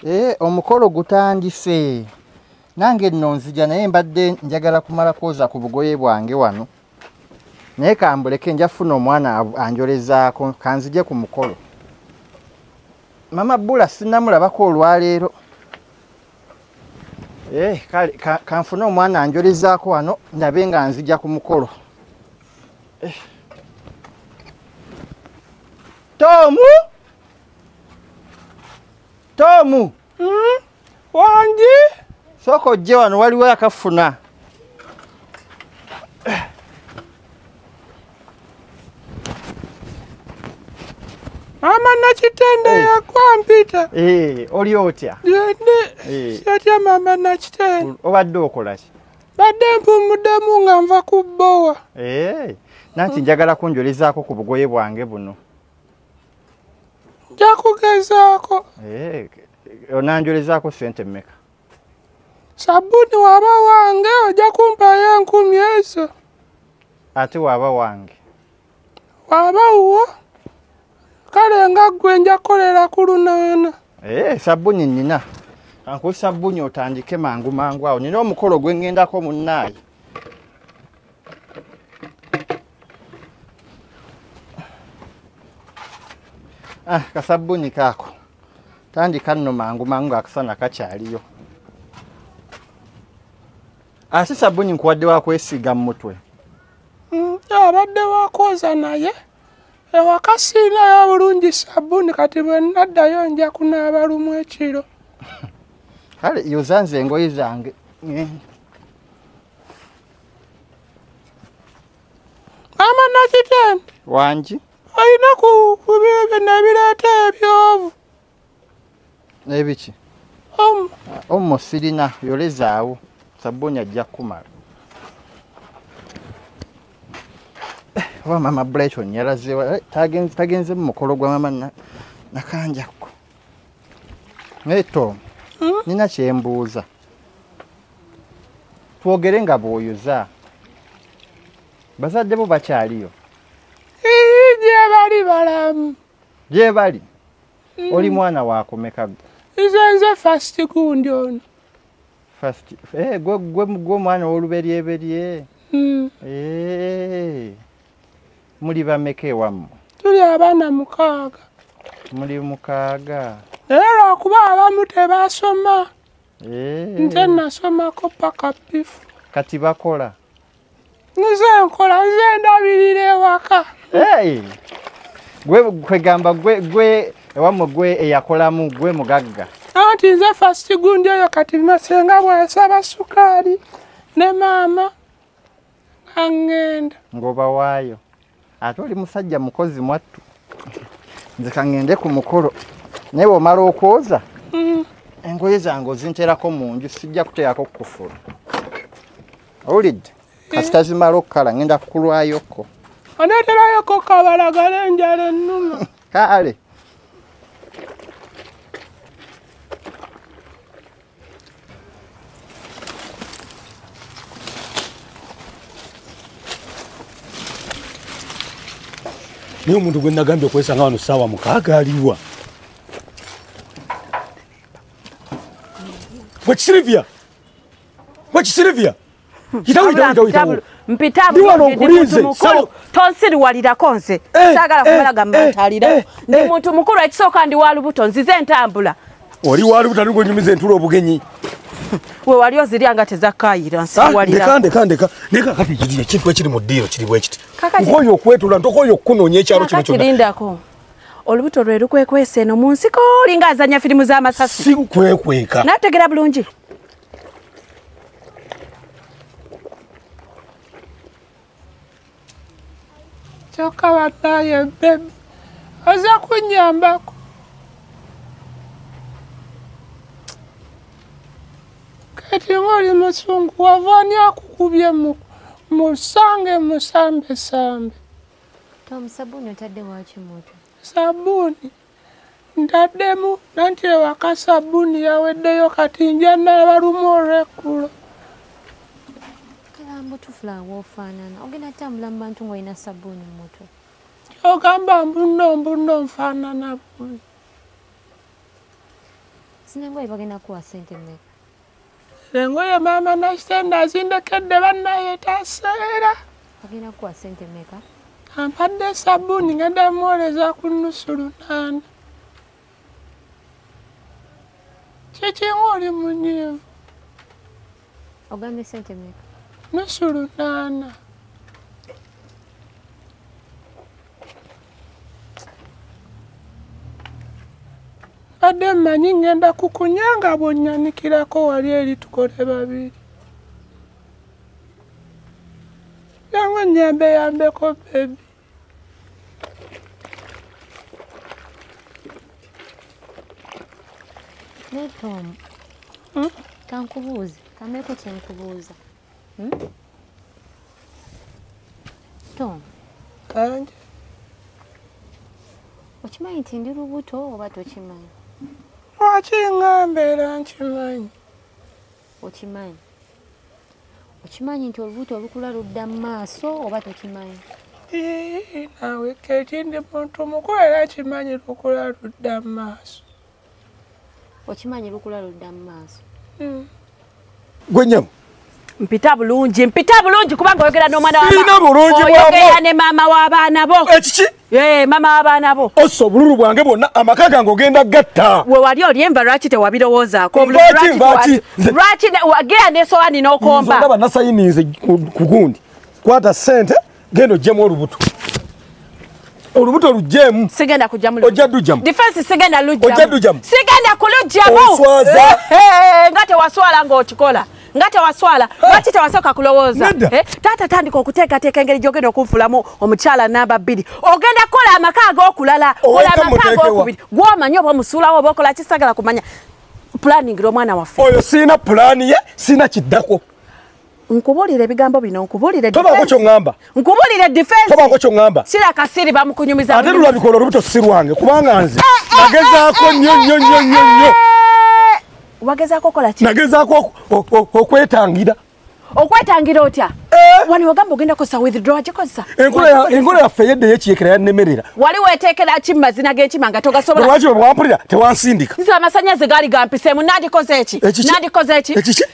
Eh, omukolo gutandise nange nno nzija naye mbadde njagala kumala kwoza ku bugoye bwange wano naye kambuleke nja funa omwana anjolezaako kanzije ku mukolo mama bula sinamulabako olwaleero eh, kale kanfune omwana anjolezaako wano ndabe nga nzija ku mukolo eh. tomu tomu hmm? wangi sooka ojje wano waliwo yakafuna mama nakitende hey. Eh. yakwampita hey, eh, oli otya gende hey. Eh. satya mama nakitende obadde okolaki badde mpumuddemu nga nva ku bbowa hey. nanti njagala kunjolezaako ku bugoye bwange buno njakugezaako eh, onanjolezaako sente mmeka sabuni waba wange ojja kumpayo enkumi ezo ate waba wange waba wuwo kale nga ggwe nja kukolera ku lunaana ee eh, sabuni nnina ankuwa sabuni otandike mangu mangu awo nina omukolo gwe ŋŋendako munnaayi Ah, kasabbuni kaako tandika nno mangu mangu akasana kakyaliyo asi ah, sabbuni nkuwadde wakwesiiga mu mutwe hmm, abadde wakwoza naye ewaka siinayo obulungi sabbuni kati bwe naddayo nja kunaaba lumu ekiro kale yoza nze engoye zange maama nakitende wangi olina ku bibyo nabireeta ebyovu ebiki omo sirina yolezaawo sabbuuni ajja kukumala oba maama brighton yalazewa eh, tagenze mu mukolo gwa maama nakanjakko naye tom hmm? nina kyembuuza twogere nga bwoyoza bazadde bo bakyaliyo gyebali balamu gyebali mm. oli mwana wakumeka nze nze fast gundi ono eh, gwe omwana woluberyeberye mm. eh, muli bameka ewamu tuli abaana mukaaga muli mukaaga naye lwakuba abamu tebasoma Eh. nze nasomako paka bifu kati bakola nze nkola nze ndabirira ewaka kwegamba gwe ewamwe gwe eyakolamu gwe mugagga anti nze fasigundi oyo kati masenga bwasaba sukaali ne maama angenda ngoba waayo ate oli musajja mukozi mwattu nze kangende ku mukolo naye bwomala okwoza mm. engoye zange ozinterako mu nju sijja kuteerako kukufula owulidde eh. kasita zimala okukala ngenda kukulwayoko oneterayoko kabalagala enjala ennuma kaale naye omuntu gwe nagambye okwesanga wano saawa mukaaga aliwa gwekisirivya gwekisirivya tonsiriwalirako nze eh, sagala eh, kumala gamantalira eh, ndi muntu mukulu ekisooka ndi walubuto nzize entambula oli walubuto ali gwenyumiza entula obugenyi we wali ozirya nga tezakayira nsiwalirakandekandeka ah, naye kakati kiri ekintu ekiri mu ddiiro kiri bwekiti nkoyo okwetula ntokoyo okukunoonya ekyalo kino kyonakirindako olubuto lwe lukwekwesa eno mu nsiko olinga azanya firimu z'amasasi sikwekweka nategera bulungi kyokka banaye bebi oza kunyambako kati ngaoli musungu wava ani akukubye musange musambesambe sabuuni ntaddemu nanti ewaka sabbuuni yaweddeyo kati nja naabalumu olwekkulo kalambo tufula woofaanana ogenda tambula mu bantu ng'olina sabbuuni mu mutwe kyogamba mbunno mbunno nfaanana bubi sinengoye bagenda kuwa sente mmeka engoye maama nasitenda azindekedde bannaye taseera agenda kukuwa sente meka ampadde esabuuni ngenda muwoleza ku nnusu lunaana kyekinga oli munyiivu ogambye sente meka nnusu lunaana mbadde mmanyi ŋŋenda kukunya nga bw'onnyanikirako wali eri tukole babiri yangu nnyambe yambeko bebi naye tom hmm? kankubuuze kameeko kyenkubuuza Hmm? Tom. Kanje. Okimanyi nti ndi lubuto oba tokimanyi? Lwaki nga mbeera nkimanyi? Okimanyi. Okimanyi nti olubuto olukula ludda mu maaso oba tokimanyi? Ee, naawe keeki ndi muntu mukulu era kimanyi lukula ludda mu maaso. okimanyi lukula ludda mu maaso hmm. gwe nyama mpita bulungi mpita bulungi kubanga oyogera n'omwana sirina bulungi bwayogera ne maama w'abaana bo ekiki ee maama w'abaana bo ossa obululu bwange bwonna amaka gange ogenda gatta we wali oli enva lwaki tewabirowoozaako lwaki lwaki wagera n'esowaani n'okomba ndaba nasayininze ku gundi kwata ssente genda ojjemu olubuto olubuto olujjemu sigenda kujjamu ojja dujjamu defense sigenda lujjamu ojja dujjamu sigenda kulujjamu oswaza eh, eh, eh, nga tewaswala ng'okikola nga tewaswala lwaki tewasooka kulowooza eh, taata tandika okuteekateeka engeri gyogenda okunfulamu omukyala namba bbiri ogenda kukola amaka ag'okulala ola amaka ag'okubiri gwomanyi oba omusuulawo oba okola kisagala kumanya pulaningira omwana waffe oyo sirina pulaani ye sirina kiddako nkubulire ebigambo bino nkubulire tobako kyongamba nkubulire defense tobako kyongamba sira kasiri bamukunyumiza ate lula bikolo rubuto sirwange kubanga nze eh, eh, nagezako eh, nyo nyo nyo nyo nyo wagezako kola ki nagezako okwetangira okwetangira otya wani wagamba ogenda kosa withdraw akikosa enkola yaffe yedde yekiyekera yanemerera wali wetekera ki mumazina genkima nga togasobola lwaki bwampulira tewansindika nze amasanyazi gaali gampiseemu nandikoze eki nandikoze eki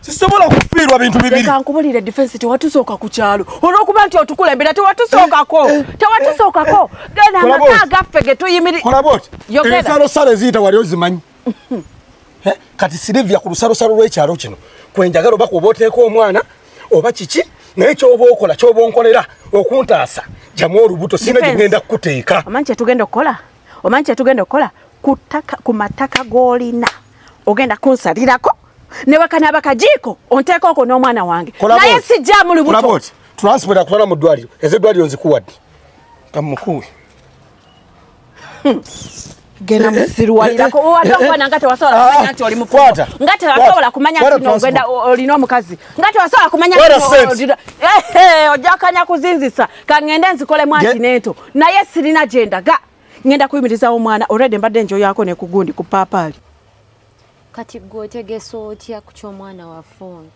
sisobola kufiirwa bintu bibireka nkubulire defense tewatusooka ku kyalo olwokuba nti otukulembera tewatusookako eh, eh, tewatusookako eh, gena amaka gaffe getuyimiriebisaalo sala eziyita wali ozimanyi kati silivia ku lusalosalo lw'ekyalo kino kwenjagala oba kuoba oteeka omwana oba kiki naye kyoba okola kyoba onkolera okuntaasa jamu olubuto sina gyegenda kukuteeka omanyi kyetugenda okukola omanyi kyetugenda okukola ku mataka g'olina ogenda kunsalirako newakanaba kajiiko onteeka okwo n'omwana wange naye sijjamu lubuto transport akutwala mu ddwaliro eze eddwaliro nzikuwadde kamukuwe hmm. genda eh, eh, musiruwalirako eh, wadde okubona nga tewasobola kumanya nti oli mukulu nga tewasobola kumanya nti nogenda olina omukazi nga tewasobola kumanya ojja kanya kuzinzisa kangende nzikolemu anti neento naye sirina gyendaga ngenda kuyimiriza omwana already mbadde njoyako ne kugundi ku papaali kati gwe otegesa otya ku ky'omwana wa fooni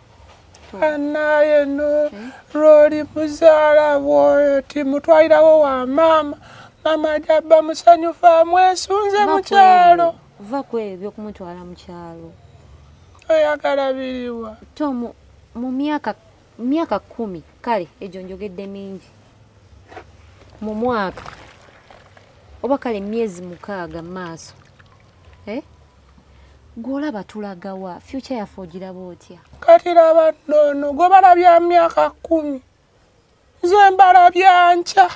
anaye no eh? roli muzaala bwoyo timutwalirawo wa maama maama jabba musanyufu amwesunze mukyalo va kwebyo okumutwala mukyalo oyagala biriwa to mu myaka mu myaka kkumi kale egyo njogedde mingi mu mwaka oba kale emyezi mukaaga mu maaso eh? gwolaba tulagawa future yaffe ogiraba otya kati laba nono gwe balabya myaka kkumi nze mbalabya nkya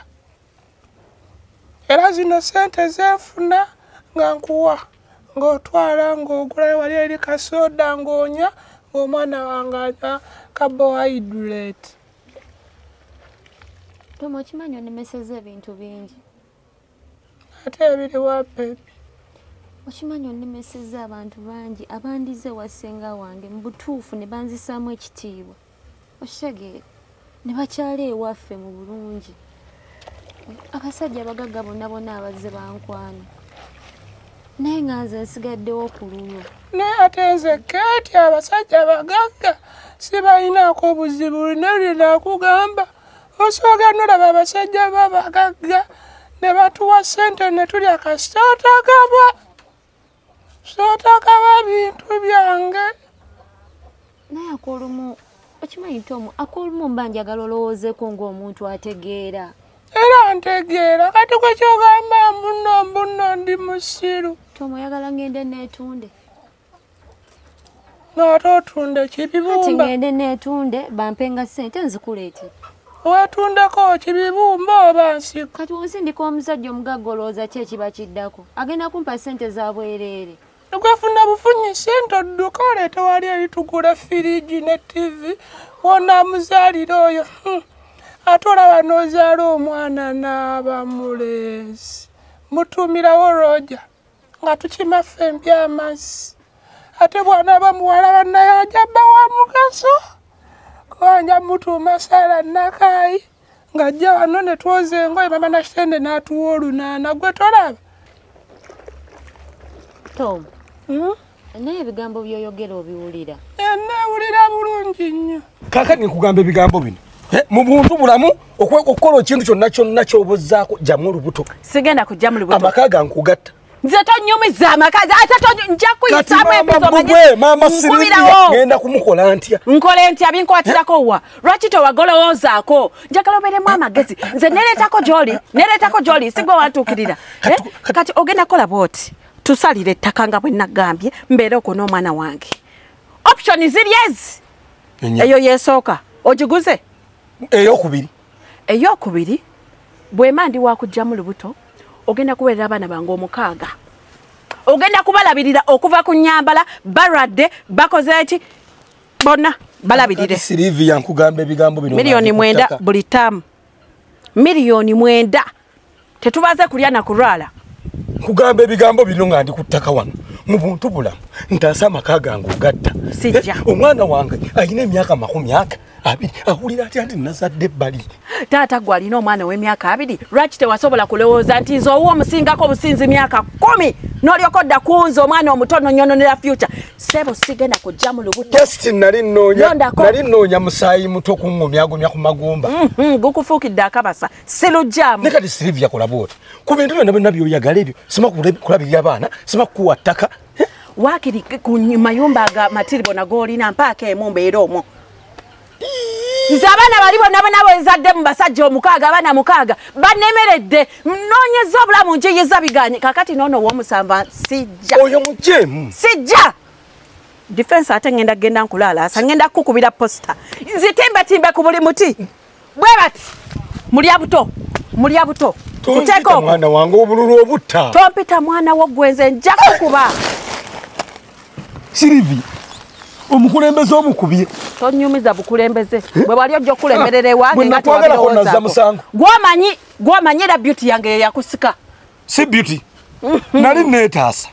era zino sente zenfuna nga nkuwa ng'otwala ng'ogulayo wali eri kasoda ng'onywa ng'omwana wange ata carbohydrate toma okimanyi onemeseza ebintu bingi ate ebiri wa bebi okimanyi onemeseza abantu bangi abandize wasenga wange mu butuufu ne banzisaamu ekitiibwa okitegeera ne bakyala ewaffe mu bulungi abasajja abagagga bonna bonna abazze bankwana naye nga nze nsigaddewo ku luno naye ate nze keeti abasajja abagagga sibalinaako obuzibu lino linakugamba osooga nolaba abasajja babagagga ne batuwa ssente ne tulya kasitaatagabwa sotakaba bintu byange naye akolumu okimanyi nti omu akolumu mba njagala olowoozeko ng'omuntu ategeera era ntegeera kati kwe kyogamba mbuno mbuno ndi musiru tomoyagala ngende neetunde naate otunde kibibumbaati ngende netunde bampenga sente nzikuleete wetundeko kibibumba oba nsiko kati wonsindika omusajja omugagga olowooza ki ekiba kiddako agenda kumpa sente za bwereere ogwefuna bufunyi sente odduka oleete wali eritugula firigi ne tivi wona muzaalire oyo hmm. ate olaba n'ozaala omwana n'abamuleezi mutuumirawo roja nga tukima ffe embi amazzi ate bwana aba muwala bannaye ajabba wa mugaso kubanja mutuuma saala nakaayi ng'ajja wano ne twoza engoye mama nakitende n'atuwa olunaana gwe tolaba tom hmm? naye ebigambo byoyogera obiwulira enewulira eh, bulungi nnyo kakati nkugamba ebigambo bino eh, mu buntu bulamu okukola ekintu kyonna kyonna kyobuzaako jamu olubuto sigenda kujamu lubuto amaka gankugatta nze tonyumiza amakazi ate nja kuyisamu ebizomaamankubiragenda kumukola ntya nkole ntya binkwatirako wa lwaki tewagolowoozaako njagala obeeremu amagezi nze nereetako gyoli nereetako gyoli sigwe wantuukirira eh, kati ogenda kukola bwoti tusalire ettaka nga bwe nagambye mbeere okwo n'omwana wange option ziri ezi eyo yesooka ogiguze eyokubiri eyokubiri bwema ndi wakugjamu lubuto ogenda kuweerera abaana bange omukaaga ogenda kubalabirira okuva ku nyambala balwadde bakoze ki bonna balabirire miliyoni mwenda buli taamu miliyoni mwenda tetubaze kulya na kulwala kugamba ebigambo bino nga ndi ku ttaka wano mu buntu bulamu ntaasa amaka gange ogatta sijja eh, omwana wange alina emyaka makumi aka abiri awulira atya nti nazadde ebbali taata gwe alina omwana ow'emyaka abiri lwaki tewasobola kulowooza nti nze owa omusingako obusinzi myaka kumi n'olyoka odda ku nze omwana omuto nonyononera future sebo sigenda kujja mu lubutotesti nali nnoonya musaayi muto kuŋŋumyagumya ku magumba mm-hmm, gukufuukidde akabasa silujjamu ne kati silivia kola bwoti ku bintu byonna byonna byoyagala ebyo sima kulabirira abaana sima kukuwa ttaka eh? wakiri ku mayumba ga matiribo nagoolina mpaako emu mbeera omwo nze abaana bali bonna bona bwenzadde mu basajja omukaaga abaana mukaaga banemeredde noonyeza obulamu njiyiza biganye kakati noono womusanva sijja oyo mujemu sijja defense ate ngenda genda nkulaalaasa ngenda kukubira posta nzitimbetimbe ku buli muti bwe bati mulya buto mulya buto kuteeka mwana wange obululu obutta tompita mwana wo gwenze nja kukuba sirivi omukulembeze omukubye tonyumiza bukulembeze eh? bwe wali ojja okukulemberera ewange nga tewabirowoozagwomanyi gwomanyira beauty yange yeyakusika si beauty mm-hmm. nali neetaasa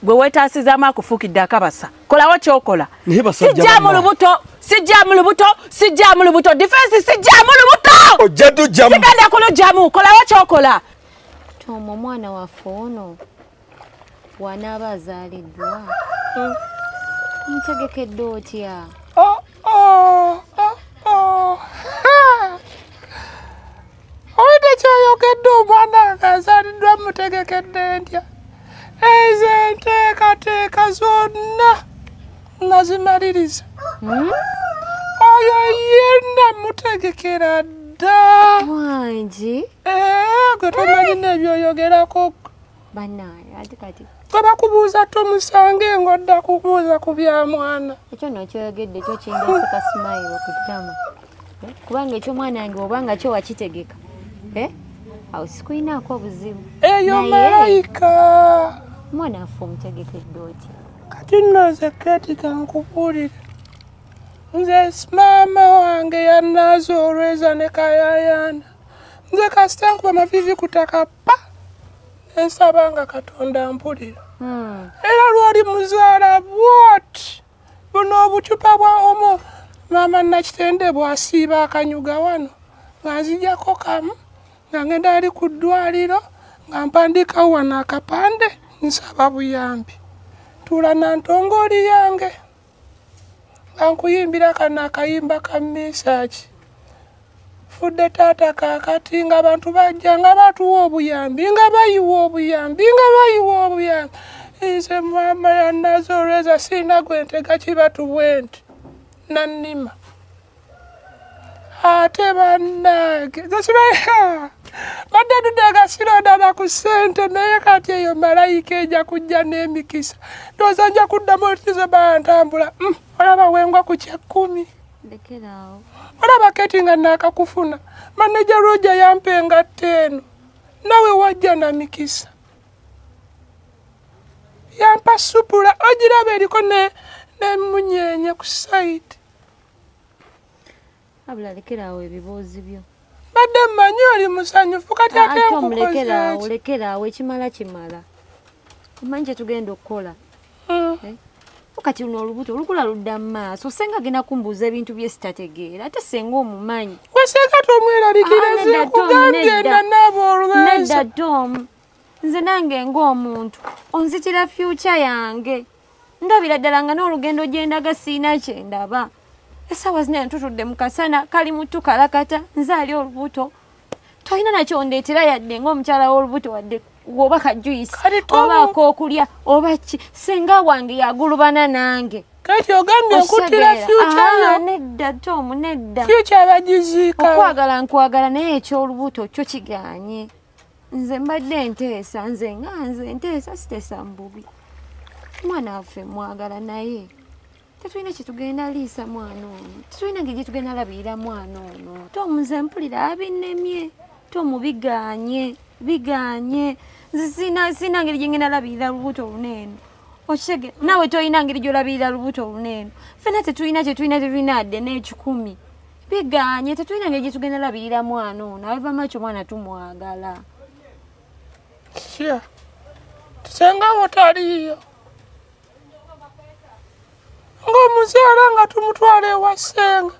gwe weetaasizaamu akufuukidde akabasa kolawo kyokola sijjamu lubuto sijjamu lubuto sijjamu lubuto difensi sijjamu lubuto ojja tujjamu sigenda kulujjamu kolawo kyokola tooma omwana waffe ono wanaaba azaaliddwa hmm. ntegekedde otya oh, oh, oh, Owulidde ky'oyogedde omwana nga azaliddwa mutegekedde ntya? Ezo enteekateeka zonna nazimaliriza. Hmm? Oyo ye namutegekera dda. Wangi? Eeh, gwe tomanyi n'ebyoyogerako. abakubuuza tomusange ngodda kubuuza ku bya mwana ekyo nokyoyogedde ekyo kindeseka simayiro okutama eh? kubanga ekyomwana yange oba nga kyo wakitegeka eh? awo sikulinaako obuzibu eyo malayika mwana affe omutegekedde oti kati noze ketika nkubuulire nze maama wange yanaaza olweza ne kayayana nze kasita nkuba mavivi kutaka ensaba nga katonda mpulira hmm. era lwali muzaala bwot buno obucupa bwa omu maama nakitende bwasiiba akanyuga wano nga nzijako kamu nga ngenda ali ku ddwaliro nga mpandiikawo wano akapande nsaba buyambi tuula nantongooli yange bankuyimbira kano akayimba ka mesaki fudde taata kakati nga abantu bajja nga batuwa obuyambi nga bayiwa obuyambi nga bayiwa obuyambi nze mama yanazi olweza siina gwe ntega kibatu bwenti nannima ate bannange zekibaea badde dudde agasiro dala ku ssente naye kati eyo malayika eja kujja n'emikisa ndowooza nja kuddamu otizo bantambula mm, olaba wengwa ku kyekkumi olaba keti nga naakakufuna maneja roja yampa engatta eno nawe wajja na mikisa yampa supula ogiraba eriko nemunyenye ku saidi abula lekera awo ebiboozi byo mbadde mmanyi oli musanyufu kati ah, ate omulekera awo lekera awo ekimala kimala omanyi kyetugenda okukola hmm. eh? kati luno olubuto olukula ludda mu maaso senga agenda kumbuuza ebintu bye sitategeera ate senga omumanyi wesenga tomweralikirazekugambye nanaaba olwensa nze nange ng'omuntu onzitira fyukya yange ndabira ddala nga n'olugendo gyendaga siina kyendaba esaawa zina ntutudde mu kasana kali muttu kalakata nze ali olubuto tolina nakyo ndeetera yadde ng'omukyala w'olubuto wadde oba kajuyisi oba ak'okulya oba ki singa wange yagulubana nange kati ogambye okutira fyukyayo nedda tomu nedda fyukya bagiziika okwagala nkwagala naye eky'olubuto kyo kiganye nze mbadde enteesa nze nga nze enteesa siteesa mububi mwana waffe mwagala naye tetulina kyetugenda liisa mwana ono tetulina ngeri gyetugenda labirira mwana ono tomuze mpulira abinemye tomubiganye biganye sina ngeri gyengenda labirira lubuto luneeno okitege naawe tolina ngeri gyolabirira lubuto luneeno fena tetulina kyetulina tetulina adde n'ekikumi biganye tetulina ngeri gyetugenda labirira mwana ono awevamakyo omwana tumwagala sure. senga wotaliiyo ng'omuzaala nga tumutwala ewa senga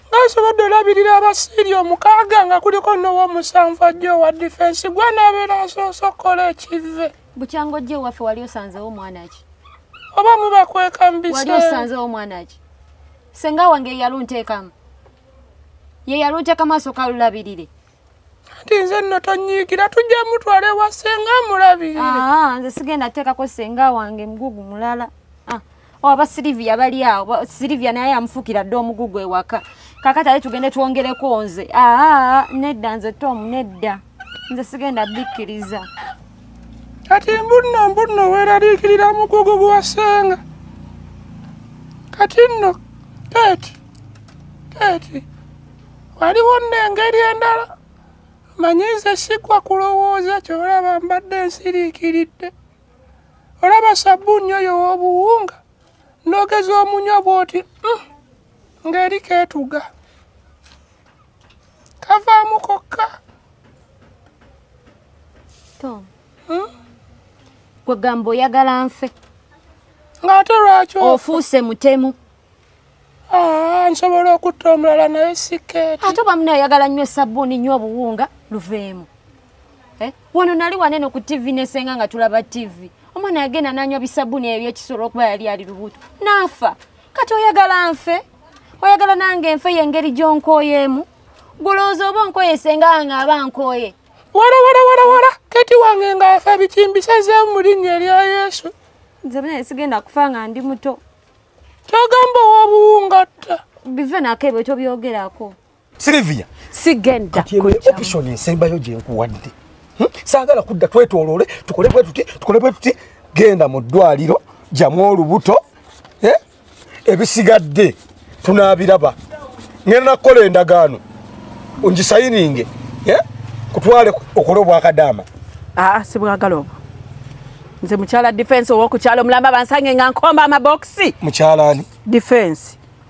ngasobodde olabirira abasiiri omukaaga nga kuliko n'ow'omusanvu ajja owa difensi gwe anaabeera asoose okukola ekive bukyanga ojja ewaffe wali osanzewo omwana ki oba mubakweka mu biseera wali osanzewo omwana ki senga wange yeyalunteekamu yeyalunteeka maaso kalulabirire anti nze nno tonyiikira tujja mutwala ewa senga amulabirire ah, nze sigenda teekako senga wange mugugu mulala ah, oba oh, silivia bali awo silivia naye amufuukira dde omugugu ewaka kakati ale tugende twongereko nze ah, nedda nze tomu nedda nze sigenda bikkiriza kati mbunno mbunno weeraliikirira mukugu gwasenga kati nno keeti keeti waliwo nno engeri endala manyi nze sigwa kulowooza kyolaba mbadde nsiriikiridde olaba sabbuuni oyo w'obuwunga nogeza omunywa bw'oti mm, ng'eri keetuga kavaamu kokka tom hmm? gwe gamba oyagala nfe ng'ate lwaki ofuuse mutemu ah, nsobola okutta omulala naye sikeeti ate oba muna ayagala nnyo esabbuuni nnyo obuwunga luveemu eh? wano nali wanene ku tivi nesenga nga tulaba tivi omwana yagenda nanywa bisabuni ebyekisolo okuba yali ali lubuto naafa kati oyagala nfe oyagala nange enfe yengeri gyonkoyeemu gulowooza oba onkoye senga wange aba nkoye wala wala wala wala kati wange nga afa bikimbisazemu mu linnya erya yesu nze bnaye sigenda kufa nga ndi muto kyogamba owobuwungatta bive nako ebyo tobyogerako Sylvia sigenda option ensembayo gyenkuwadde hmm? saagala kudda twetoloole tukole bwe tuti tukole bwe tuti genda mu ddwaliro jamu olubuto eh? ebisigadde tunaabiraba ngenda nakukola endagaano ongisayininge eh? kutwale okole obwakadaama aa ah, sibwagala obwo nze mukyala defense owokukyalo omulamba bansange nga nkomba amabokisi mukyalani defense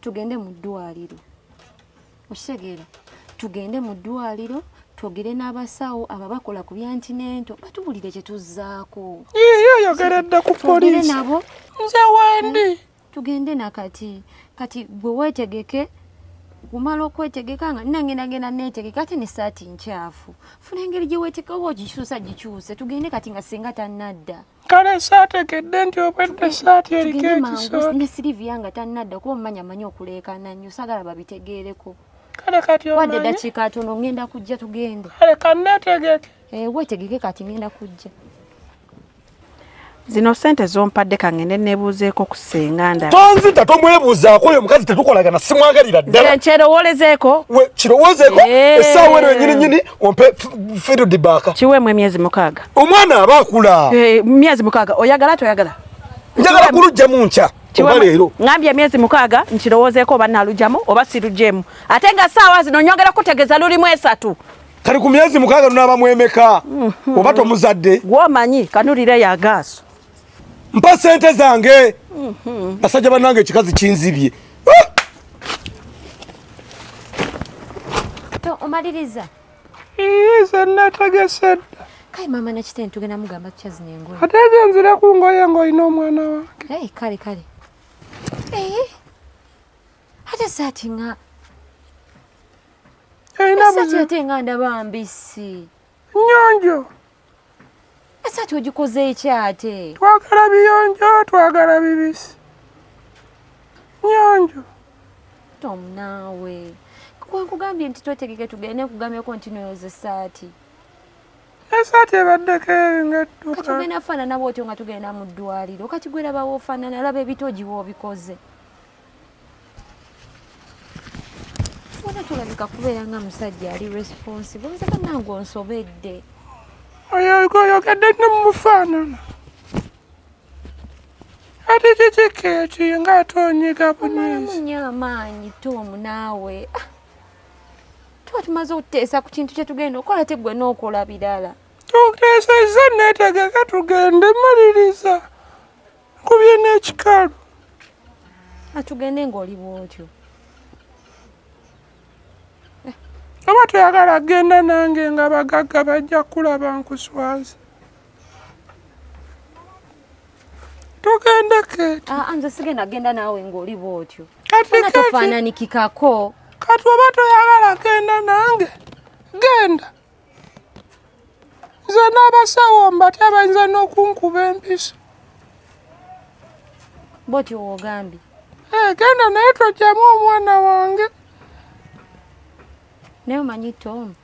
tugende mu ddwaliro okitegeera tugende mu ddwaliro twogere n'abasawo abo bakola ku byantinento batubulire kye tuzzaako yiyo oyogera dda ku polisi nabo nze wendi hmm? tugende nakati kati gwe weetegeke kumala okwetegeka nga nangenagenda netegeka ate nesaati nkyafu funa engeri gyewetekaba ogikyusa gikyuse tugende kati nga singa tanadda kale saategedde nti obwedde saati eriko ekisoone siriviya nga tannadda kuba omumanya amanyi okuleekana nnyo sagala babitegeereko kale kati wadde eddakiika atono ngenda kujja tugende kale kanneetegeke eh, weetegeke kati ngenda kujja zino sente zompadde kangende nebuuzeeko ku tonzita tomwebuuzaako oyo omukazi tetukolagana simwagalira ddalakyerowolezeeko kirowozeeko eh. esaawa eno yenyini nyini ompe firudibaaka kiweemu emyezi mukaaga omwana aba akula eh, myezi mukaaga oyagala toyagala njagala kulujjamu nkya ngambye emyezi mukaaga nkirowozeeko oba nalujjamu oba sirujjemu ate nga saawa zino nyongera kutegeza lulimu esatu kali ku myezi mukaaga lunaaba mwemeka mhm. oba tomuzadde gwomanyi kanulire yagaaso mpa sente zange mhm. basajja banange ekikazi kinzibye ah! omaliriza iza natagese dda kale maama nakite ntugenda mugamba tukyazina engoye ate ezo nzire ku ngoye ngaolina omwana wange kale kale eh? ate saati nga saati ate nga ndaba mbisi nyonjo ese ati ogikoze eki ate twagala biyonjo twagala bibisi nyonjo tom naawe kwenkugambye nti twetegeke tugende nkugambyeko nti noyoza esaati esaati ebaddeko engatugenda kufaanana bwotyo nga tugenda mu ddwaliro kati gwerabawo ofaanana laba ebitogiwa obikoze wona tulabika kubeera nga musajja ali responsible nze banange onsobedde oyoyogedde ne mumufaanana ati kiki keeki nga ate onyiga bunyiimunyo amaanyi tomu naawe ah, tuba tumaze okuteesa ku kintu kye tugenda okola te gwe n'okola birala tuteesezza neetegeka tugende maliriza nkubye n'ekikalu atugende ng'oli bwotyo oba toyagala genda nange nga bagagga bajja kulaba nkuswaza tugende keeto ah, ah, nze sigenda genda naawe ng'oli bwotyo kati tofaananikikako kati oba toyagala genda nange genda nze n'abasawo mbate abayinza n'okunkuba empiso boti wogambye eh, genda naye tojjamu omwana wange naye omanyi tom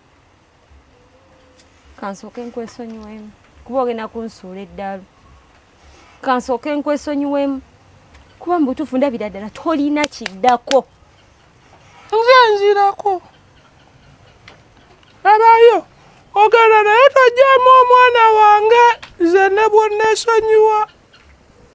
kansooke nkwesonyiwemu kuba ogenda kunsuula eddalu kansooke nkwesonyiwemu kuba mubutuufu ndabira ddala tolina kiddako nze nzirako abayo ogenda naye tojjamu omwana wange nze ne bwonnesonyiwa